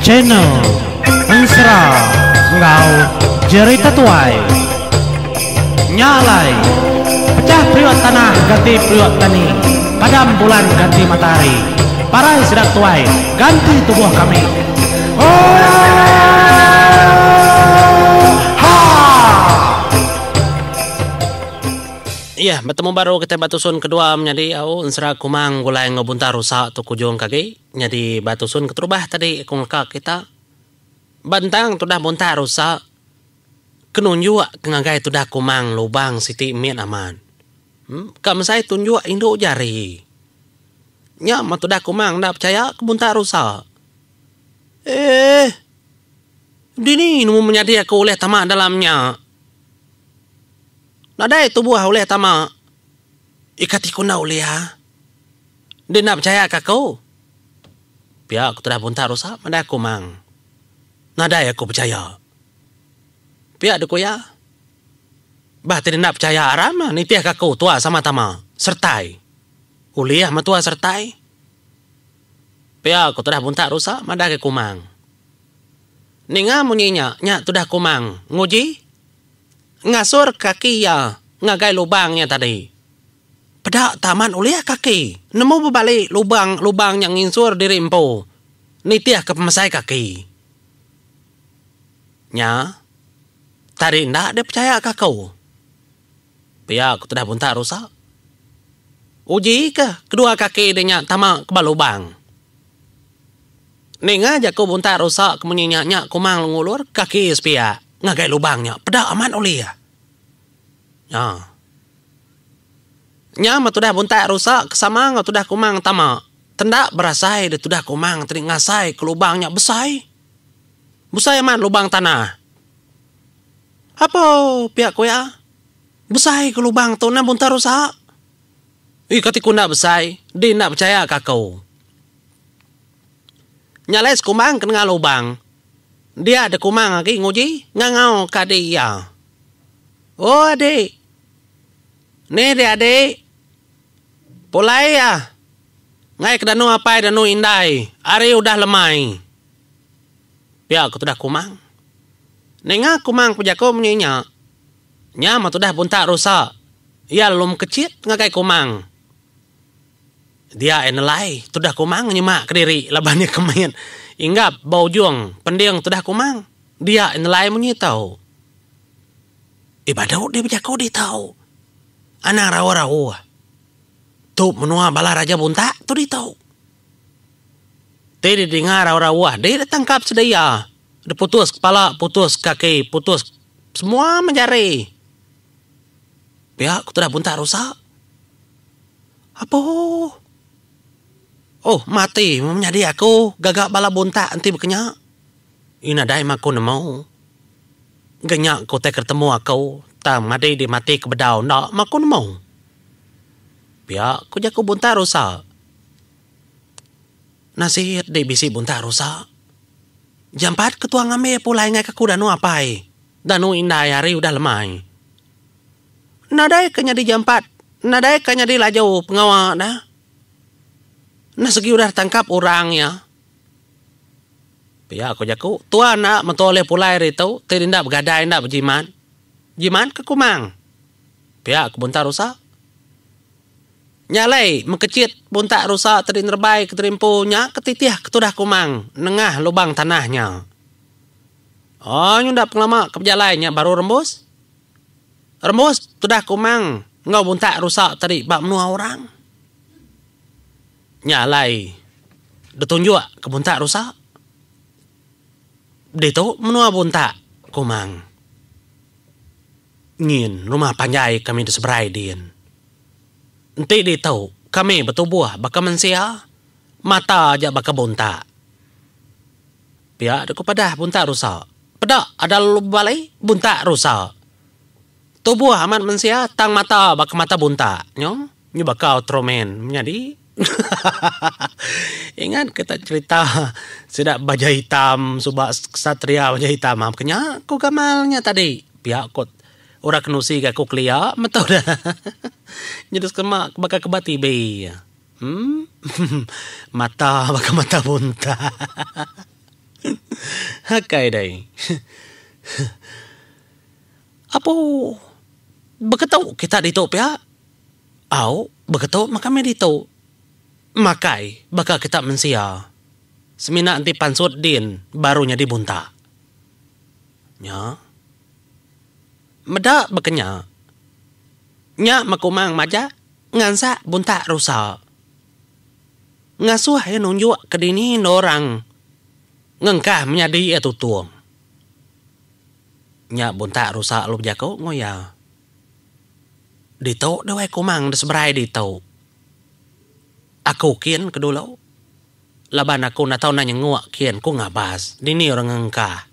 Channel Ensera enggau Jerry Tetuai Nya alai Pecah periuk tanah ganti periuk tani Padam bulan ganti matahari Parai sida ketuai ganti tubuh kami Oohh Haa Iya, betemu baru kitai ba tusun kedua menyadi au ensera kumang gulai enggau buntar rusa tu kujung ke agi nyadi ba tusun keterubah tadi aku ngaka kita. Ba ntang tudah buntar rusa ke nunjuk ke ngagai tudah kumang lubang siti mit amat. Em, ka mesai tunjuk indu jari. Nya meh tudah kumang enda pechaya ke buntar rusa. Eh. Dini nemu menyadi aku ulih tama dalam nya. Nadai tubuh ulih tama ika ti kunda ulih iya. Enti enda pechaya ka aku. Pia aku tudah buntak rusak madai aku mang. Nadai aku pechaya. Pia dku iya. Bah ti enda pechaya aram nitih ka aku tua sama tama sertai. Ulih metua sertai. Pia aku tudah buntak rusak madai aku mang. Ninga munyi nya nya tudah aku mang nguji. Ngasur kaki iya ngagai lubang nya tadi. Peda taman ulih kaki nemu bebali lubang lubang nya nginsur diri empu nitihka pemesai kaki nya tadi enda dipechayaka aku. Pia ku tudah buntak rusa. Uji ke kedua kaki di nya tama ke ba lubang. Ninga jaku buntai rusa ke munyi nya nya kumang ngulur kaki sepiak ngagai lubang nya peda amat ulir. Nya. Nya meh tudah buntai rusa ke sama enggau tudah kumang tama tenda berasai deh tudah kumang tadi ngasai ke lubang nya besai. Besai amat lubang tanah. Apo pia ku iya? Besai ke lubang tu nah buntai rusa. Ih kati ku enda besai, di enda pechaya ka aku. Nya alai sekumbang ke nengah lubang. Dia dek kumang agi nguji ngangau ke adik iya. O adik. Ni dia adik. Pulai iya ngai ke danu apai danu indai ari udah lemai. Pia ke tudah kumang. Ninga kumang pejaku munyi nya. Nya mah tudah buntak rusa. Iya lalu mekecit ngagai kumang. Dia ai nelai tudah kumang nyema kediri laban iya ke mit inggap ba ujung pending tudah kumang. Dia ai nelai munyi tau. Eh badu dih bejaku dih tau. Anang rauh-rauh. Tu menua bala raja buntak tu dih tau. Ti dih dinga rauh-rauh dih deh tangkap sedia. Deh putus kepala, putus kaki, putus semua menjari. Pia ku tudah buntak rusa. Apo? Oh, mati meh menyadi aku gaga bala buntak enti bekenya. Iya nadai meh aku nemu. Engka nya ke utai ke ditemu aku, tang madi dih mati ke bedau enda meh aku nemu. Pia ku jaku buntak rusa. Nasit dih bisi buntak rusa. Jampat ke tuang ambi pulai ngaika aku danu apai, danu indai hari udah lemai. Nadai ka nyadi jampat nadai ka nyadi laju pengawa da nah segi udah tangkap orang iya. Pia ko jaku tua enda mentua ulih pulai ari tu ti enda begadai enda bejimat. Jimat ke kumang. Pia ko buntak rusa. Nya alai mekechit buntak rusa tadi nerebai ke terimpu nya ke titih ke tudah kumang nengah lubang tanah nya. Oi nyunda pengelama ke bejalai nya baru rembus. Rembus tudah kumang enggau buntak rusa tadi ba menua orang. Nya alai ditunjuk ke buntak rusa. Ditu menua buntak kumang nyin rumah panjai kami diseberai din. Enti ditu kami betubuh baka mensia mata aja baka buntak. Pia deka padah buntak rusa. Peda ada lalu bebalai, buntak rusa. Tubuh amat mensia tang mata baka mata buntak. Nyo nyo baka Ultraman menyadi. Ingat ke tak cerita sida baja hitam suba ksatria baja hitam. Apa ke nya ko gamal nya tadi. Pia ko ora kenusi ga ko kelia meto da. Nyadi sema baka ke ba TV. Umm. Mata baka mata bunta. Akai dai. Apo baka tu kita ditu pia? Au, baka tu maka meh ditu. Makai baka kita mensia. Semina enti pansut din baru nyadi bunta. Nya. Meda baka nya. Nya Makumang majak ngansak Buntak Rusa. Ngasuh iya nunjuk ke dini enda orang ngengkah menyadi iya tutung. Nya Buntak Rusa lalu bejaku enggau iya. Ditu Dewai Kumang da seberai ditu. Aku kin ke dulu. Laban aku enda tau enda nyenguk kin ku ngabas dini orang ngengkah.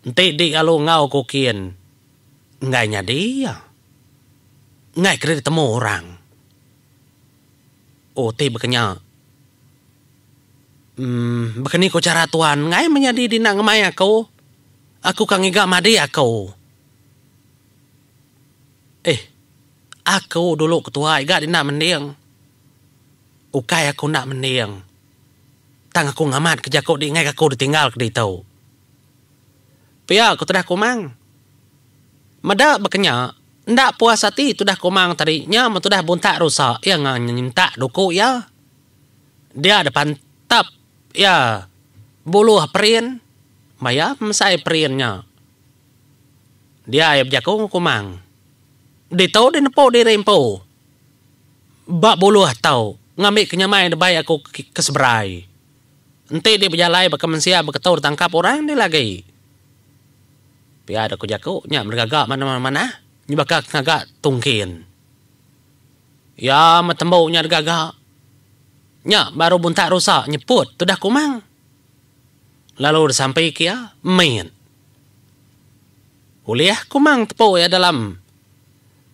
Enti di kalu enggau ku kin enggai nyadi iya. Enggai keri ditemu orang. Oh ti bekenya uhh baka ni ku chara tuan enggai meh nyadi dina ngemai aku. Aku ka ngiga madik aku. Eh aku dulu ketuai ga dina mending. Ukai aku enda mending. Tang aku ngamat ke jaku dinggai ke aku ditinggal ke ditu. Pia ku tudah Kumang. Meda bekenya, enda puas ati tudah Kumang tadi nya mun tudah Buntak rusa iya enggau nyentak duku iya. Dia deka entap iya buluh perin meh iya memesai perin nya. Dia iya bejaku enggau Kumang. Ditu dinepu diri empu Ba buluh tau, ngambi ke nyamai debai aku ke seberai. Enti dih bejalai baka mensia beketu ditangkap orang dih lagi. Pia deh ku jaku nya meri gaga manah-manah nyebaka ke ngaga tungkin. Iya meh tembu nya deh gaga. Nya baru buntak rusa nyeput tudah kumang. Lalu disampi ke iya, mit. Ulih kumang tepu iya dalam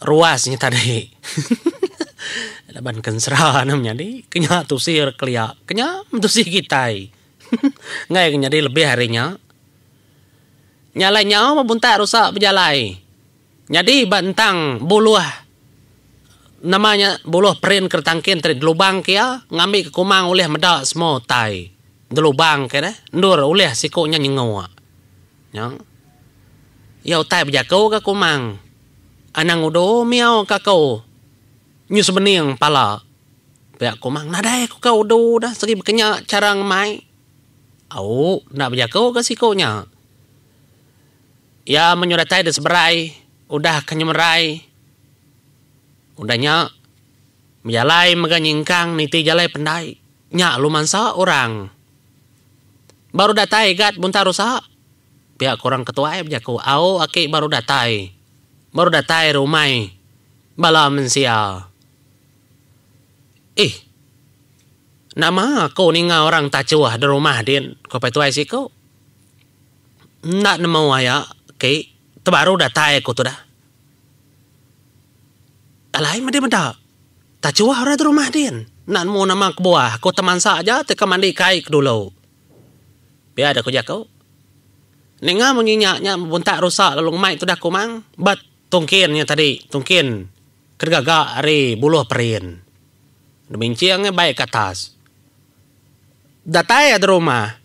ruas nya tadi. Laban kensera ne menyadi ke nya tusir kelia ke nya mentusi kitai. Enggai ke nyadi lebih ari nya. Nya alai nyau muntak rusak bejalai. Nyadi ba entang buluh nama nya buluh perin ke ditangkin tadi delubangka iya ngambika kumang ulih meda semua utai delubangka deh endur ulih siku nya nyenguk nya iya utai bejaku ga kumang anang udu miau ka aku nyu sebening pala pia kumang nadai ku ka udu da segi bekenya chara ngemai au enda bejaku ga siku nya. Iya menyuh datai di seberai udah ke nyemerai. Udah nya, bejalai mega nyingkang niti jalai pendai. Nya alu mansa orang. Baru datai gat buntar rusa. Pia ku orang ketuai bejaku, Au aki baru datai. Baru datai ari umai bala mensia. Ih. Nama aku ninga orang tachuh di rumah din, ku Apai Tuai siku. Enda nemu aya ke tebaru datai aku tudah. Alai medi meda. Tachuh orang ti rumah din. Enda nemu nama kebuah. Aku temansa aja ti ke mandi kai ke dulu. Pia deh ku jaku. Ninga munyi nya nya bebuntak rusa lalu ngemai tudah kumang ba tungkin nya tadi, tungkin ke digaga ari buluh perin. Diminching bai ke atas. Datai ari rumah.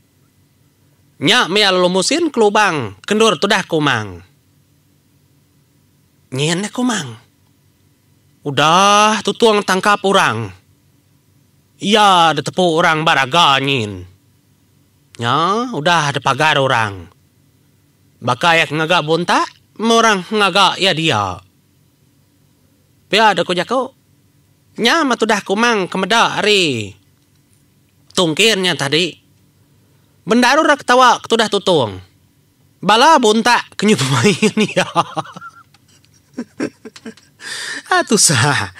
Nya mia lalu musin kelubang kendur tudah kumang. Nyin nya kumang. Udah tutung tangkap orang. Iya da tepu orang ba raga nyin. Nya udah da pagar orang. Baka iya ke ngaga buntak meh orang ngaga iya dia. Pia da ku jaku. Nya meh tudah kumang ke meda ari. Tungkin nya tadi. Bendaru ra ketawa ketudah tutung. Bala buntak ke nyu bemain iya. Haa tusah.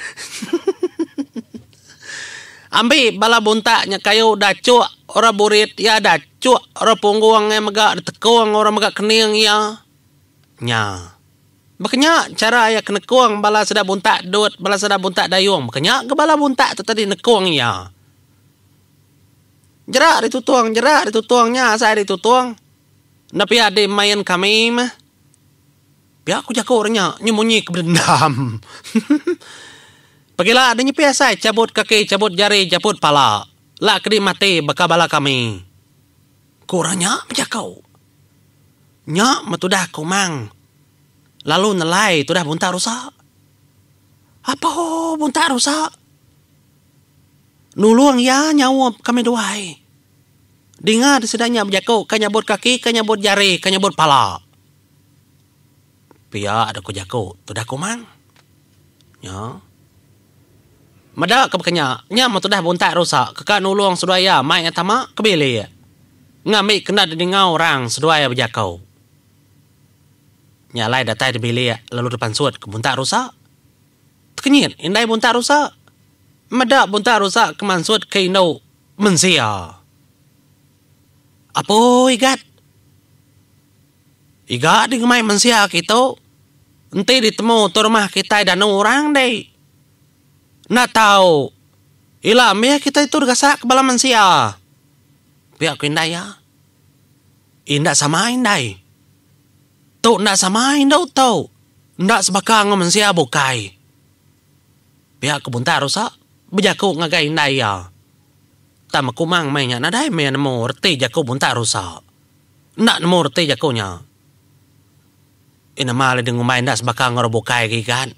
Ambi bala buntak nya kayu dachuk orang burit iya dachuk orang punggung iya mega ditekung orang mega kening iya. Nya. Baka nya chara iya ke nekung bala sida buntak dut, bala sida buntak dayung, baka nya ga bala buntak tu tadi nekung iya. Jerak ari tutung, jerak ari tutung nya asai ari tutung. Enda pia di main kami meh. Pia ku jaku renya nyu munyi ke bedendam. Pagila enda nyepi asai chabut kaki, chabut jari, japut pala. Lak kedi mati baka bala kami. ku orang nya bejaku. Nya metudah Komang lalu nelai tudah Buntak Rusa. Apo Buntak Rusa? Nulung iya nyaup kami duai. Dinga di sida nya bejaku ka nyabut kaki, ka nyabut jari, ka nyabut pala. Pia dah ku jaku tudah kumang. Nya. Meda ke baka nya, nya meh tudah buntak rusa ke ka nulung seduai iya mai ngah tama ke bilik ngambi kenda didingau orang seduai bejaku. Nya alai datai di bilik lalu dipansut ke buntak rusa. Tekenyit indai buntak rusa. Meda buntak rusa ke mansut ke indu mensia. Apoi gat. Iga di ngemai mensia aki tu. Enti di temu tu rumah kitai danu orang di. Enda tau ila mih kitai tu digasak ke bala mensia. Pia ku indai iya. Inda sama indai. Tu enda sama indu tu. Enda sebaka enggau mensia bukai. Pia ku Buntar Rusa bejaku ngagai indai iya. Tang Mekumang meh nya nadai mih nemu reti jaku Buntar Rusa. Enda nemu reti jaku nya. Ih nama le dingumbai enda sebaka enggau orang bukai ke igat.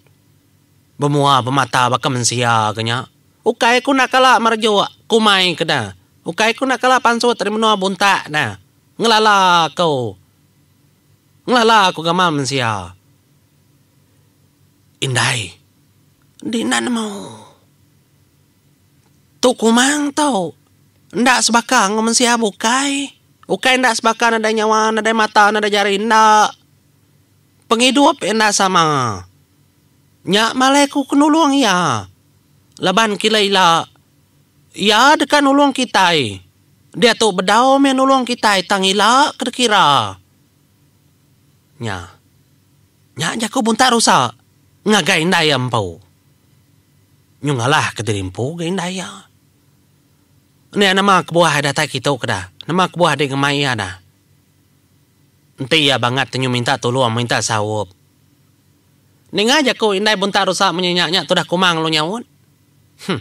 Bemua pemata baka mensia ke nya. Ukai ku enda kala merejuk kumai ke da. Ukai ku enda kala pansut ari menua buntak da. Ngelala ku. Ngelala ku gamal mensia. Indai. Enti enda nemu. Tu kumang tu. Enda sebaka enggau mensia bukai. Ukai enda sebaka nadai nyawa, nadai mata, nadai jari. Enda. Pengidup iya enda sama. Nya malai ku ke nulung iya. Laban kila ila iya deka nulung kitai. Diatu bedau meh nulung kitai tang ila ke dikira. Nya. Nya jaku buntak rusa ngagai indai iya empu. Nyu ngalah ke diri empu ga indai iya. Nya nama kebuah ai datai kitu keda. Nama kebuah dek ngemai iya da. Enti iya bangat te nyu minta tulong minta saup. Ninga jaku indai buntak rusa munyi nya nya tudah kumang lu nyaut. Huh.